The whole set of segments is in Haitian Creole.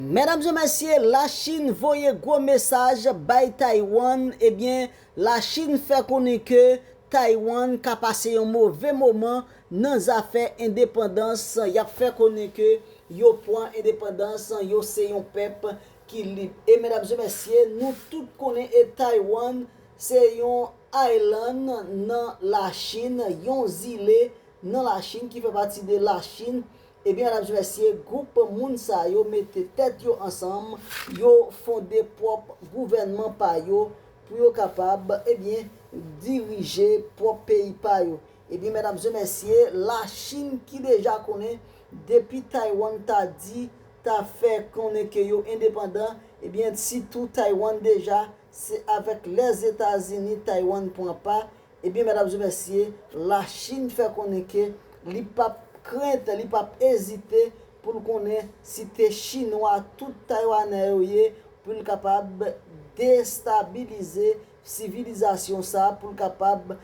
Medam e mesye la chine voye gwo mesaj bay Taiwan ebyen la chine fè konnen ke Taiwan ka pase yon move moman nan zafè endepandans yap fè konnen ke yo pwan endepandans yo se yon pèp ki lib e medam e mesye nou tout konnen e Taiwan se yon island nan la chine yon zile nan la chine ki fè pati de la chine Ebyen medam zi mesye group moun sa yo mete tèt yo ansanm yo fonde prop gouvènman pa yo pou yo kapab ebyen dirije prop peyi pa yo ebyen medam zi mesye la chine ki deja konnen depi Taiwan ta di ta fè konnen ke yo endepandan ebyen si tou Taiwan deja se avek lèzetazini Taiwan pran pa Ebyen medam e mesye, la Chine fè konnen ke li pap krent, li pap ezite pou l konnen si te chinwa tout taywanè yo ye pou l kapab destabilize sivilizasyon sa, pou l kapab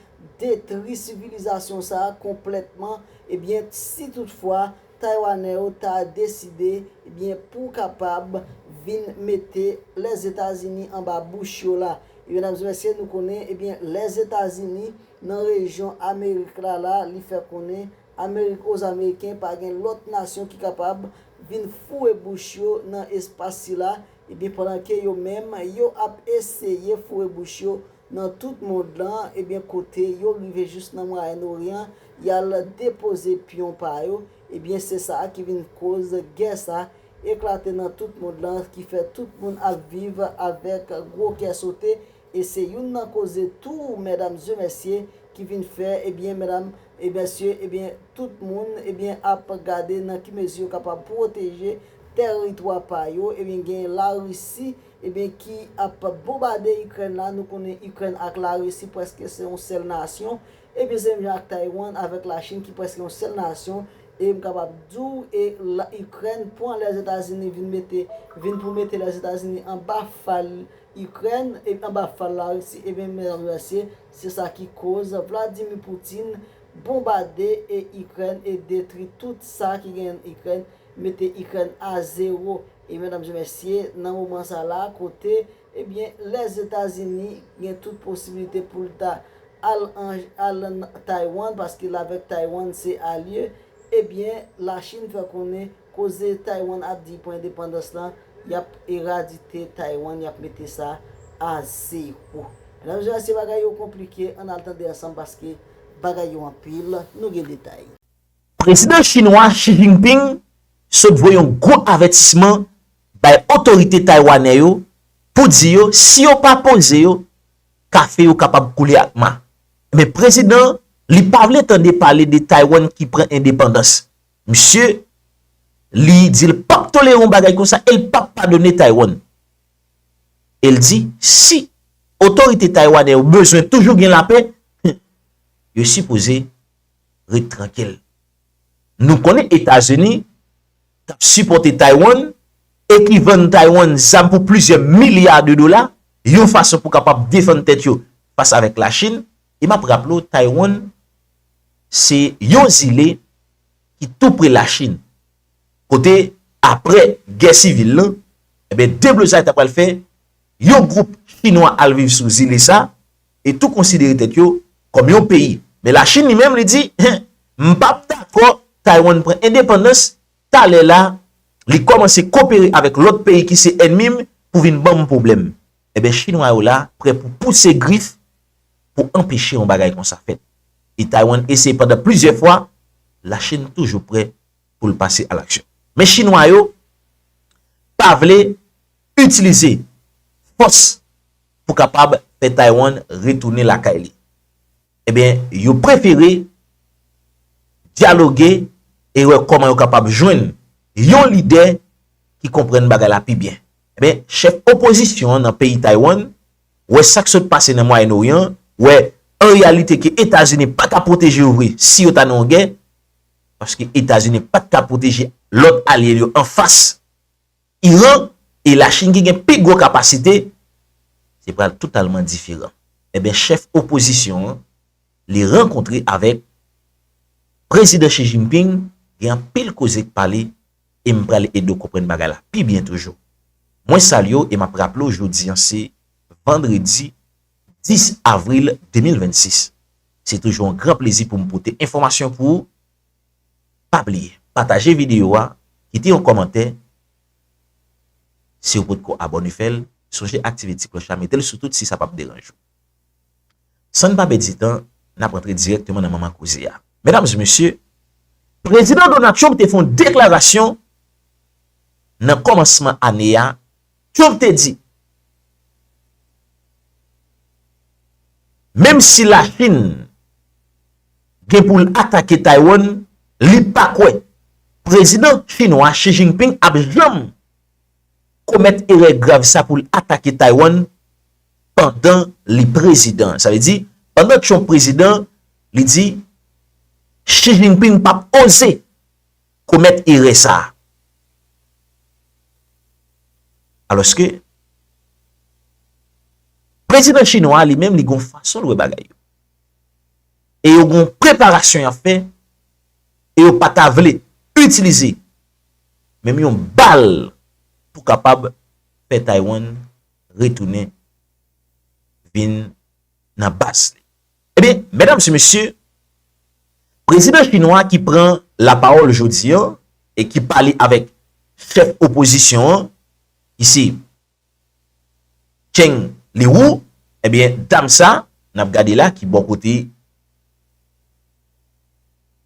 detri sivilizasyon sa konplètman, ebyen si tout fwa. Taiwanè yo ta deside ebyen pou kapab vin mete Lèzetazini anba bouch yo la. Ebyen medam e mesye nou konnen ebyen Lèzetazini nan rejyon Amerik la la li fè konnen Amerik oz Ameriken pa gen lòt nasyon ki kapab vin foure bouch yo nan espas sila ebyen pandan ke yo menm yo ap eseye foure bouch yo nan tout mond lan ebyen kote yo rive jis nan mwayenn oryan yal depoze pyon pa yo ebyen se sa ki vin koz gè sa eklate nan tout mond lan ki fè tout moun ap viv avèk gwo kè sote e se youn nan koze tou medam e mesye ki vin fè ebyen medam e mesye ebyen tout moun ebyen ap gade nan ki mezi yo kapab pwoteje tèritwa pa yo ebyen gen larisi Ebyen ki ap bonbade ikrèn la nou konnen ikrèn ak la risi preske se yon sèl nasyon ebyen se menm jan ak taywan avèk la chin ki preske yon sèl nasyon e m kapab di w e la ikrèn pwan lèzetazini vin mete vin pou mete lèzetazini anba fal ikrèn e anba fal la risi ebyen mèdam mesye se sa ki koz vladimi poutin bonbade e ikrèn e detri tout sa ki gen ikrèn mete ikrèn a zero E medam e mesye nan moman sa la kote ebyen Lèzetazini gen tout posibilite poul ta al al nan Taiwan paske l avèk Taiwan se alye ebyen la Chine fè konnen koze Taiwan ap di li pran endepandans lan yap eradite Taiwan yap mete sa a zero. Medam e mesye bagay yo konplike an al tande ansanm paske bagay yo anpil nou gen detay. Prezidan chinwa Xi Jinping sot voye yon gwo avètisman bay otorite taywanè yo pou di yo si yo pa poze yo, kafe yo kapab koule ak ma. Men prezidan li pa vle tande pale de Taywann ki pran endepandans. Misye li di l pap tolere yon bagay konsa e l pap padone Taywann. E l di si otorite taywanè yo bezwen toujou gen lapè, yo sipoze ret trankil. Nou konnen Etazini k ap sipòte Taiwan e ki vann Taiwan zam pou plizyè milya de dola yon fason pou kapab defann tèt yo fas avèk Lachin. E m ap raple w Taiwan se yon zile ki tou pre Lachin kote apre gè sivil lan deblozay ta pral fè yon gwoup chinwa al viv sou zile sa e tou konsidere tèt yo kòm yon peyi. Men Lachin li menm li di, M pa p dakò Taiwan pran endepandans, talè la li kòmanse kopere avèk lòt peyi ki se ènmi m pou vin ban m pwoblèm. Enben Chinwa yo la prè pou pouse grif pou anpeche yon bagay konsa fèt. E Taiwan eseye pandan plizyè fwa, Lachin toujou prè pou l pase alaksyon. Men Chinwa yo pa vle. itilize fòs pou kapab fè Taiwan retounen lakay li. Ebyen, yo prefere dyaloge e wè kòman yo kapab jwenn yon lidè ki konprann bagay la pi byen. Ebyen, chèf opozisyon nan peyi Taiwan, wè sa k sot pase nan Mwayen Oryan, wè an reyalite ke Etazini pa ka pwoteje yo vre si yo ta nan yon gè, paske Etazini pa t ka pwoteje lòt alye l yo anfas Iran e Lachin ki gen pi gwo kapasite, se pral totalman diferan. Enben chèf opozisyon an li rankontre avèk Prezidan Xi Jinping gen anpil koze k pale e m pral ede w konprann bagay la pi byen toujou. Mwen salye w e m ap raple w jodi an se vandredi 10 avril 2026. Se toujou yon gran plezi pou m pote enfòmasyon pou ou Pa bliye pataje video a kite yon kòmantè siw potko abòne fèl sonje aktive ti klòch la metel sou tout si sa pap deranj ou San pa pèdi tan nap antre dirèkteman nan manman koze a Medam e mesye Prezidan Donald Trump te fon deklarasyon nan kòmansman ane a. Trump te di, Menm si Lachin gen pou l atake Taiwan, li pa kwè Prezidan Chinwa Xi Jinping ap janm komèt erè grav sa pou l atake Taiwan pandan li prezidan. Sa vle di, pandan Trump prezidan, li di, Xi Jinping pap oze. komèt erè sa a. Alòske, prezidan chinwa a li menm li gon fason l wè bagay yo. E yo gon preparasyon y ap fè e yo pa ta vle itilize menm yon bal pou kapab fè Taywann retounen vin nan baz li. Ebyen, medam se mesye, prezidan chinwa ki pran la pawòl jodi an e ki pale avèk chèf opozisyon an, ki se Cheng Liwu, ebyen dam sa, n ap gade la ki bò kote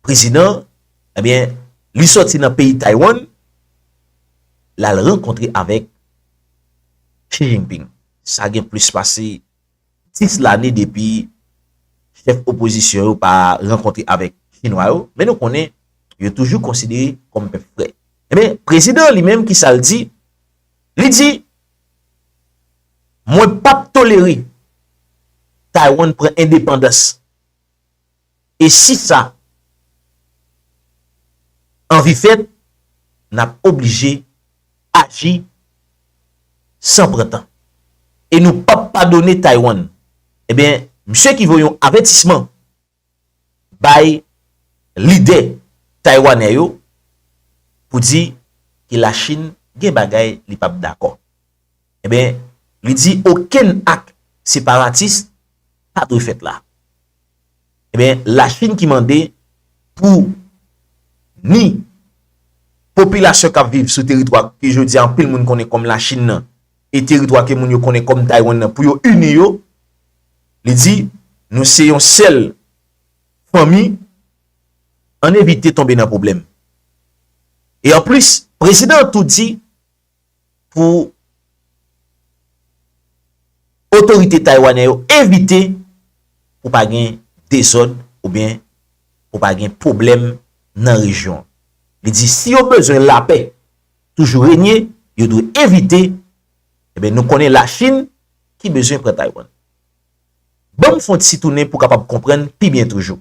prezidan, ebyen li sòti nan peyi Taiwan, l al rankontre avèk Xi Jinping. Sa gen plis pase. 6 lane depi chèf opozisyon yo pa rankontre avèk chinwa yo, men nou konnen yo toujou konsidere kòm pèp frè. Enben, prezidan an li menm ki sa l di? Li di, Mwen pap tolere Taiwan pran endepandans. E si sa anvi fèt, n ap oblije aji san pran tan. E nou p ap padone Taiwan. Enben, misye ki voye yon avètisman bay lidè taiwanè yo pou di ke Lachin gen bagay li p ap dakò. Enben, li di okenn ak separatis pa dwe fèt la. Enben, Lachin ki mande pou ni popilasyon k ap viv sou teritwa ke jodi a anpil moun konnen kòm Lachin nan e teritwa ke moun yo konnen kòm Taywann nan pou yo ini yo, li di, nou se yon sèl fanmi, ann evite tonbe nan pwoblèm. E anplis, prezidan an tou di, pou otorite taywanè yo evite pou pa gen dezòd oubyen pou pa gen pwoblèm nan rejyon an. Li di si yo bezwen lapè toujou renye, yo dwe evite, eben nou konnen Lachin ki bezwen pran Taywann. Ban m fon ti tounen pou kapab konprann pi byen toujou.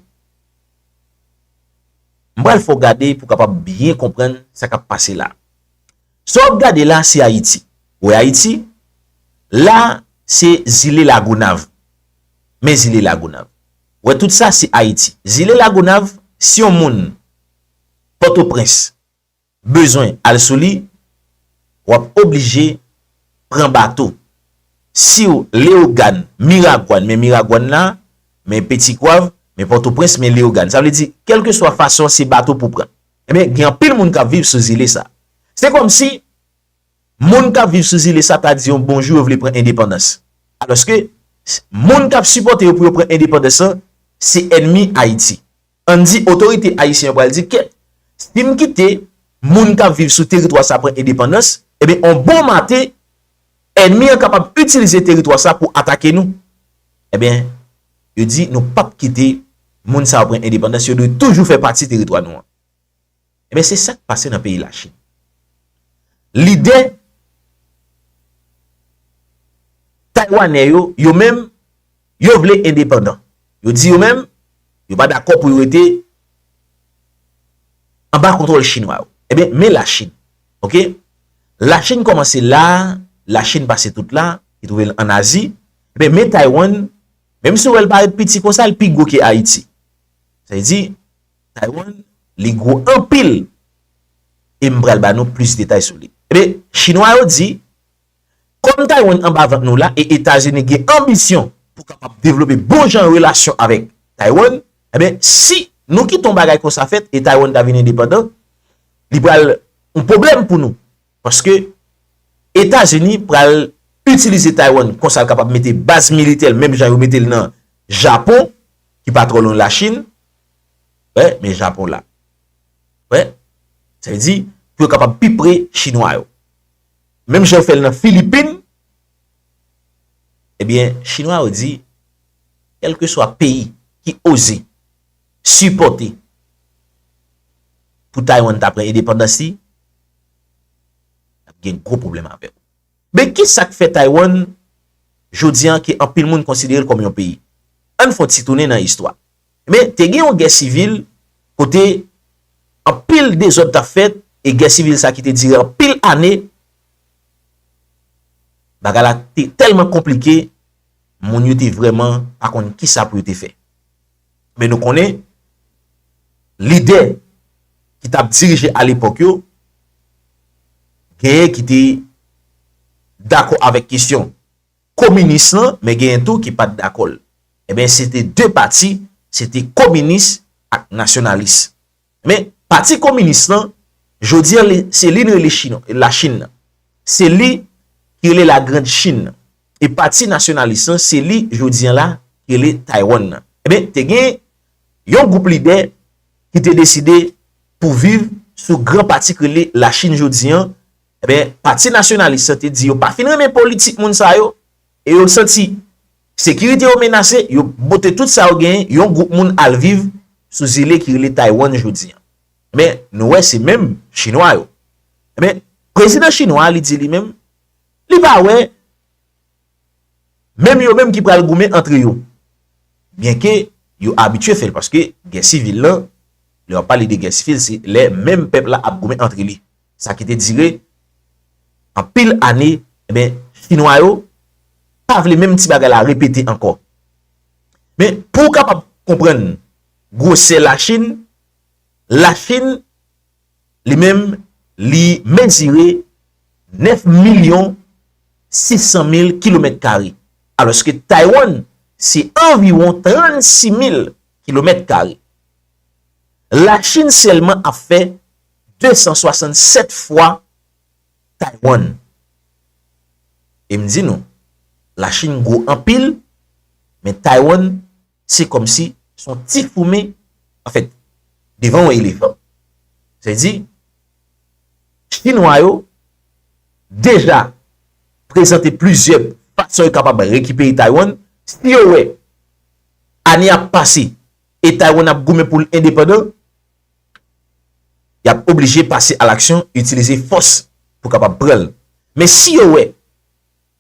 M pral fè w gade pou kapab byen konprann sa k ap pase la. Sa wap gade la se Ayiti. Ou wè Ayiti? La se zile Lagonav. Men zile Lagonav. Ou wè tout sa se Ayiti. Zile Lagonav, si yon moun Pòtoprens bezwen al sou li, wap oblije pran bato. Siw Leyogàn, Miragwàn, men Miragwàn la, men Petigwav, men Pòtoprens, men Leyogàn. Sa vle di, kèlkeswa fason se bato pou pran. Ebyen, gen anpil moun k ap viv sou zile sa. Se kòm si moun k ap viv sou zile sa ta di yon bonjou yo vle pran endepandans. Alòske, moun k ap sipòte yo pou yo pran endepandans lan, se ènmi Ayiti. Ann di otorite ayisyen yo pral di kèt, si m kite moun k ap viv sou teritwa sa pran endepandans, ebyen on bon maten, ènmi an kapab itilize teritwa sa pou atake nou. Ebyen, yo di nou pap kite moun sa yo pran endepandans, yo dwe toujou fè pati teritwa nou an. Ebyen, se sa k pase nan peyi Lachin. Lidè Taywanè yo, yo menm, Yo vle endepandan. Yo di yo menm, yo pa dakò pou yo rete anba kontwòl chinwa yo. Enben, men Lachin. Ok? Lachin kòmanse la, Lachin pase tout la, ki twouve l an Azi. Enben, men Taywann, menm si ou wè l parèt piti kon sa, l pi gwo ke Ayiti. Sa vle di, Taywann, li gwo anpil. E m pral ba nou plis detay sou li. Enben, chinwa yo di. Kòm Taiwan anba vant nou la e Etazini gen anbisyon pou kapab devlope bon jan relasyon avèk Taiwan, enben si nou kite yon bagay konsa fèt e Taiwan ta vin endepandan, li pral yon pwoblèm pou nou. Paske Etazini pral itilize Taiwan konsa l kapab mete baz militè l menm jan yo mete l nan Japon ki pa twò lwen Lachin. Wè, men Japon la. Wè, sa vle di pou yo kapab pi pre Chinwa yo. menm jan yo fè l nan Filipin, ebyen chinwa yo di kèlkeswa peyi ki oze sipòte pou Taiwan ta pran endepandans li, y ap gen gwo pwoblèm avè yo. Men ki sa k fè Taiwan jodi an ke anpil moun konsidere l kòm yon peyi? Ann fè yon ti tounen nan istwa. Men, te gen yon gè sivil kote anpil dezòd t ap fèt e gè sivil sa ki te dire anpil ane, bagay la te tèlman konplike, moun yo te vrèman pa konn ki sa pou yo te fè. Men nou konnen, lidè ki t ap dirije alepòk yo, genyen ki te dakò avèk kesyon kominis lan, men genyen tou ki pa t dakò l. Enben se te 2 pati, se te kominis ak nasyonalis. Enben pati kominis lan, jodi an se li nou rele la Chin nan. Se li ki rele la grand Chin nan. E pati nasyonalis lan se li jodi an la ki rele Taiwan nan. Enben te gen yon gwoup lidè ki te deside pou viv sou gran pati ki rele la Chin jodi an. Enben pati nasyonalis lan te di yo pa fin renmen politik moun sa yo. E yo santi Sekirite yo menase, yo bote tout sa yo genyen, yon gwoup moun al viv sou zile ki rele Taiwan jodi an. Enben, nou wè se menm Chinwa yo. Enben, prezidan Chinwa a li di li menm, li pa wè menm yo menm ki pral goumen antre yo. Byenke yo abitye fè l paske gè sivil lan, lè w ap pale de gè sivil se lè menm pèp la ap goumen antre li. Sa ki te dire anpil ane, enben, Chinwa yo pa vle menm ti bagay la repete ankò. Men, pou ou kapab konprann gwosè Lachin, Lachin li menm li mezire 9 milyon 600 mil kilomèt kare, alòske Taywann se anviwon 36 mil kilomèt kare. Lachin sèlman ap fè. 267 fwa Taiwan. E m di nou, la Chine gwo anpil, men Taiwan se kòm si son ti foumi, an fèt, devan yon elefan. Sa vle di, Chinwa yo deja prezante plizyè fason yo kapab rekipere Taiwan, si yo wè ane ap pase e Taiwan ap goumen pou l endepandan, y ap oblije pase alaksyon, itilize fòs pou kapab pran l. Men si yo wè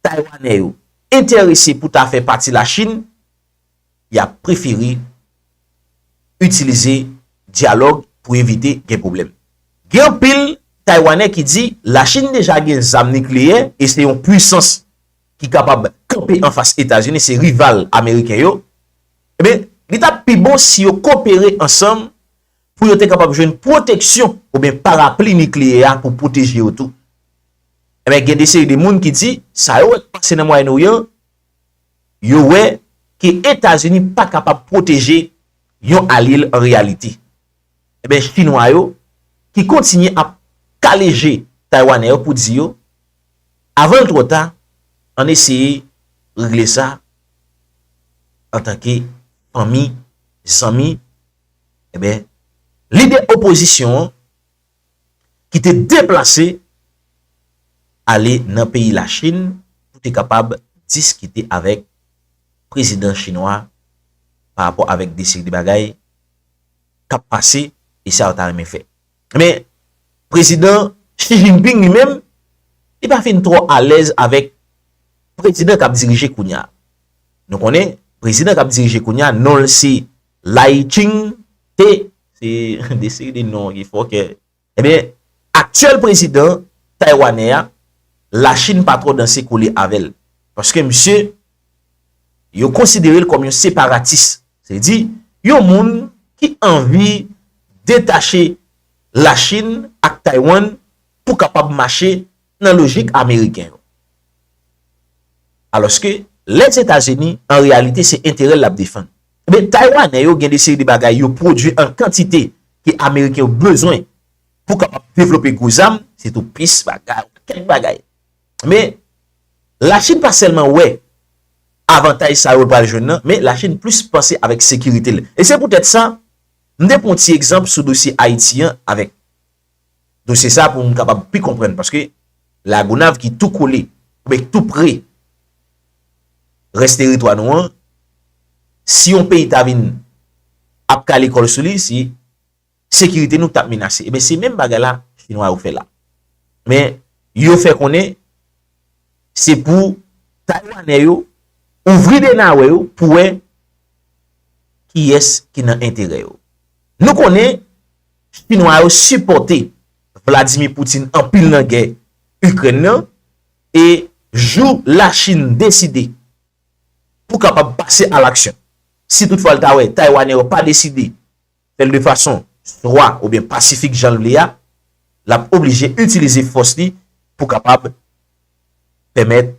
Taywanè yo enterese pou ta fè pati Lachin, y ap prefere itilize dyalòg pou evite gen pwoblèm. Gen anpil Taywanè ki di Lachin deja gen zam nikleyè e se yon pwisans. ki kapab kanpe anfas Etazini, se rival ameriken yo, enben, li ta pi bon si yo kopere ansanm pou yo te kapab jwenn pwoteksyon oubyen parapli nikleyè a pou pwoteje yo tou. Enben, gen de seri de moun ki di, sa yo wè k pase nan Mwayen Oryan, yo wè ke Etazini pa kapab pwoteje yon alye l an reyalite. Enben chinwa yo ki kontinye ap kale je taywanè yo pou di yo avan l twò ta ann eseye regle sa antanke fanmi, zanmi, enben lidè opozisyon an ki te deplase ale nan peyi Lachin pou te kapab diskite avèk prezidan chinwa pa rapò avèk de seri de bagay. k ap pase e sa yo ta renmen fè. Men, Prezidan Xi Jinping li menm, li pa fin twò alèz avèk Prezidan k ap dirije kounye a. Nou konnen, Prezidan k ap dirije kounye a non l se Lai Ching-te, se de seri de non ki fòkè. Ebyen, aktyèl prezidan Taywanè a, Lachin pa twò danse kole avè l. Paske misye, yo konsidere l kòm yon separatis. Se di, yon moun ki anvi detache Lachin ak Taywann pou kapab mache nan lojik ameriken yo. Alòske Lèzetazini an reyalite se enterè l l ap defann. Ebyen Taywanè yo gen de seri de bagay yo pwodui an kantite ke ameriken yo bezwen pou kapab devlope gwo zam, sitou pis bagay oubyen kèk bagay. Men Lachin pa sèlman wè avantaj sa yo l pral jwenn nan, men Lachin plis panse avèk sekirite l. E se poutèt sa, m te pran yon ti egzanp sou dosye Ayiti an avèk dosye sa pou moun kapab pi konprann paske La Gonave ki tou kole oubyen ki tou pre rès teritwa nou an si yon peyi ta vin ap kale kòl sou li se sekirite nou ki tap menase eben se menm bagay la chinwa yo fè la men yo fè konnen se pou taywanè yo ouvri de nawè yo pou wè kiyès ki nan enterè yo nou konnen. Chinwa yo sipòte Vladimir Putin anpil nan gè Ikrèn nan e jou Lachin deside pou kapab pase alaksyon, si tout fwa l ta wè Taywanè yo pa deside fè l de fason swa oubyen pasifik jan l vle a, l ap oblije itilize fòs li pou kapab. pèmèt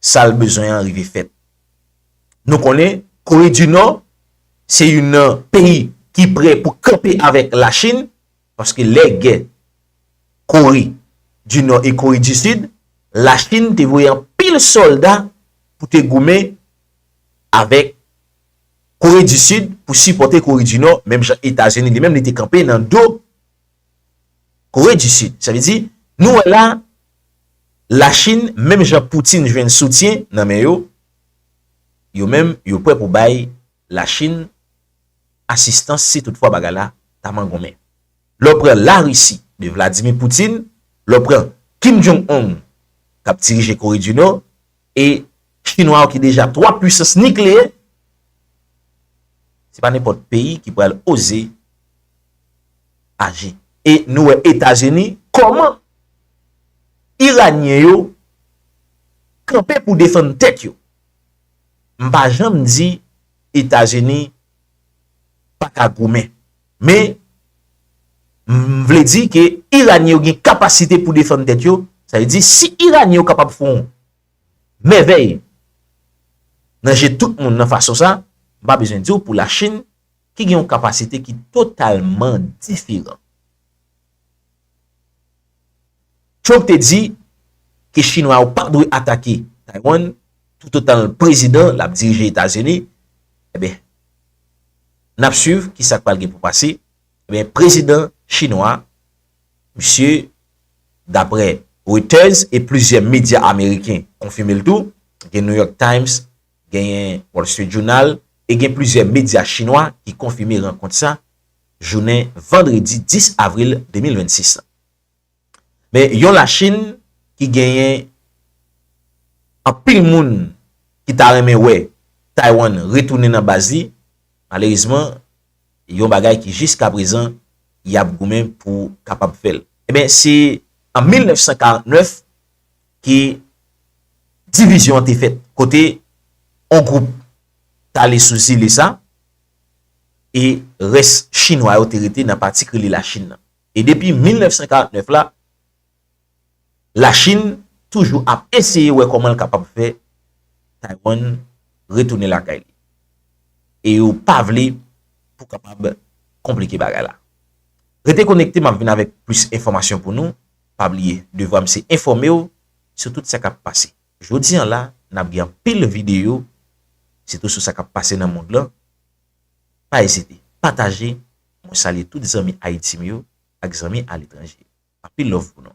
sa l bezwen an rive fèt. Nou konnen Kore di Nò se youn nan peyi ki prè pou kanpe avèk Lachin paske lè gè Kore di Nò e Kore di Sid, Lachin te voye anpil sòlda pou te goumen avèk Kore di Sid pou sipòte Kore di Nò menm jan Etazini li menm li te kanpe nan do Kore di Sid. Sa vle di, nou wè la, Lachin, menm jan Poutin jwenn soutyen nan men yo, yo menm yo prè pou bay Lachin asistans si toutfwa bagay la ta mangonmen. Lè w pran Larisi de Vladimir Poutin, lè w pran Kim Jong-un k ap dirije Kore di Nò, E chinwa yo ki deja 3 pwisans nikleyè, se pa nenpòt peyi ki pral oze aji. E nou wè Etazini kòman iranyen yo kanpe pou defann tèt yo. M pa janm di Etazini pa ka goumen. Men, m vle di ke Iranyen yo gen kapasite pou defann tèt yo, sa vle di si Iranyen yo kapab fè yon mèvèy nan je tout moun nan fason sa, m pa bezwen di w pou la Chin ki gen yon kapasite ki totalman diferan. Trump te di ke Chinwa yo pa dwe atake Taiwan, toutotan l prezidan, l ap dirije Etazini, e ben, Nap swiv kisa k pral gen pou pase. Ebyen prezidan chinwa misye daprè Reuters e plizyè medya ameriken konfime l tou, gen New York Times, genyen Wall Street Journal e gen plizyè medya chinwa ki konfime rankont sa jounen vandredi 10 avril 2026 la. Men yon Lachin ki genyen anpil moun ki ta renmen wè Taywann retounen nan baz li, malerezman yon bagay ki jiskaprezan y ap goumen pou kapab fè l. Enben se an 1949 ke divizyon an te fèt kote yon gwoup t ale sou zile sa e rès Chinwa yo te rete nan pati ki rele Lachin nan. E depi 1949 la, Lachin toujou ap eseye wè kòman l kapab fè Taywann retounen lakay li. E yo pa vle pou kapab konplike bagay la. Rete konekte m ap vin avèk plis enfòmasyon pou nou. Pa bliye, devwa m se enfòme w sou tout sa k ap pase. Jodi an la, n ap gen anpil videyo sitou sou sa k ap pase nan mond lan. Pa ezite pataje mwen salye tout zanmi Haïti m yo ak zanmi aletranje anpil love pou nou.